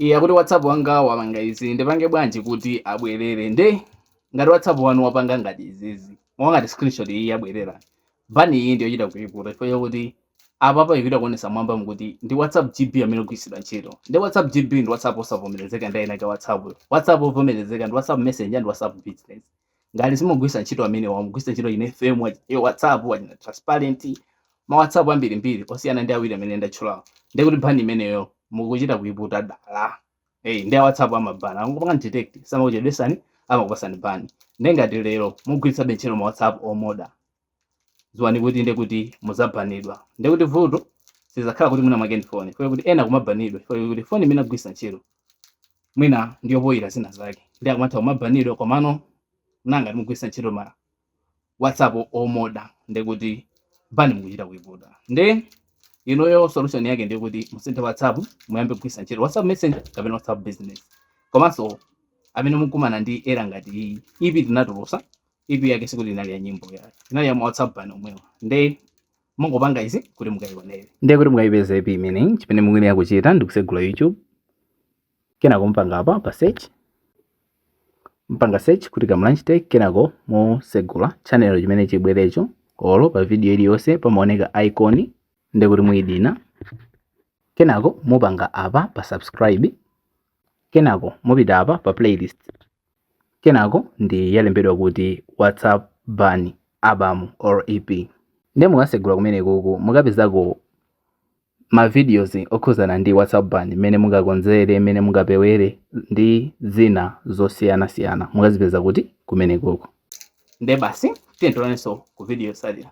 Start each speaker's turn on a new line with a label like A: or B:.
A: Iye akuti WhatsApp wanga wapanga izi ndipange bwanji kuti abwerere nde ngati WhatsApp wanu wapanga ngati izizi monga ngati screenshot iyi yabwerera bani iyi ndiyochita kuiputa chifukwa chakuti apapa ikuchita kuonesa mwambamu kuti ndi WhatsApp GB amene akugwiritsidwa ntchito nde WhatsApp GB ndi WhatsApp osavomerezeka ndi eni ake a WhatsApp yo. WhatsApp ovomerezeka ndi WhatsApp Messenger ndi WhatsApp Business. ngati simugwiritsa ntchito amenewa mukugwiritsa ntchito achina fm wa- ya whatsapp achina transparent ma whatsapp ambirimbiri osiyana ndi awiri amene ndatchulawo nde kuti bani imeneyo mukuchita kuiputa dala hey, ndi a whatsapp amabana akangopanga detect samakuchedwesani amakupasani bani nde ngati lero mugwiritsabe ntchito ma whatsapp omoda dziwani kuti nde kuti muzabanidwa nde kuti vuto sizakhala kuti mwina mwake ndi foni chifukwa chakuti ena akumabanidwa chifukwa chakuti foni imene agwisa ntchito mwina ndiyo poyira zina zake nde akumatha kumabanidwa komano ngati mugwisa ntchito ma whatsapp omoda nde kuti bani mukuchita kuiputa nde inoyo solution yake ndiyo kuti musinthe whatsapp muyambe kugwisa ntchito whatsapp messenger kapena whatsapp business komanso amene mukumana ndi error ngati iyi EP tinatulusa EP yake sikuti inali ya nyimbo ayi inali ya ma WhatsApp ban omwewa nde mungopanga izi kuti mukayionere ndiye kuti mukayipeza EP imeneyi chimene mukuyenera kuchita ndi kusegula YouTube kenako mpanga apa pa search mpanga search kuti Kamlanj Tech kenako musegula channel chimene chibwerecho olo pa video iliyonse pamaoneka icon ndiye kuti muyidina kenako mupanga apa pa subscribe kenako mupita apa pa playlist Kenako ndi yalembedwa kuti WhatsApp Ban Album or EP. Nde mukasegula kumenekuku mukapezako ma videos okhuzana ndi WhatsApp Ban, mmene mungakonzere, mmene mungapewere ndi zina zosiyana siyana mukazipeza kuti kumenekuku. Nde basi tiyeni tionanenso ku video yotsatira.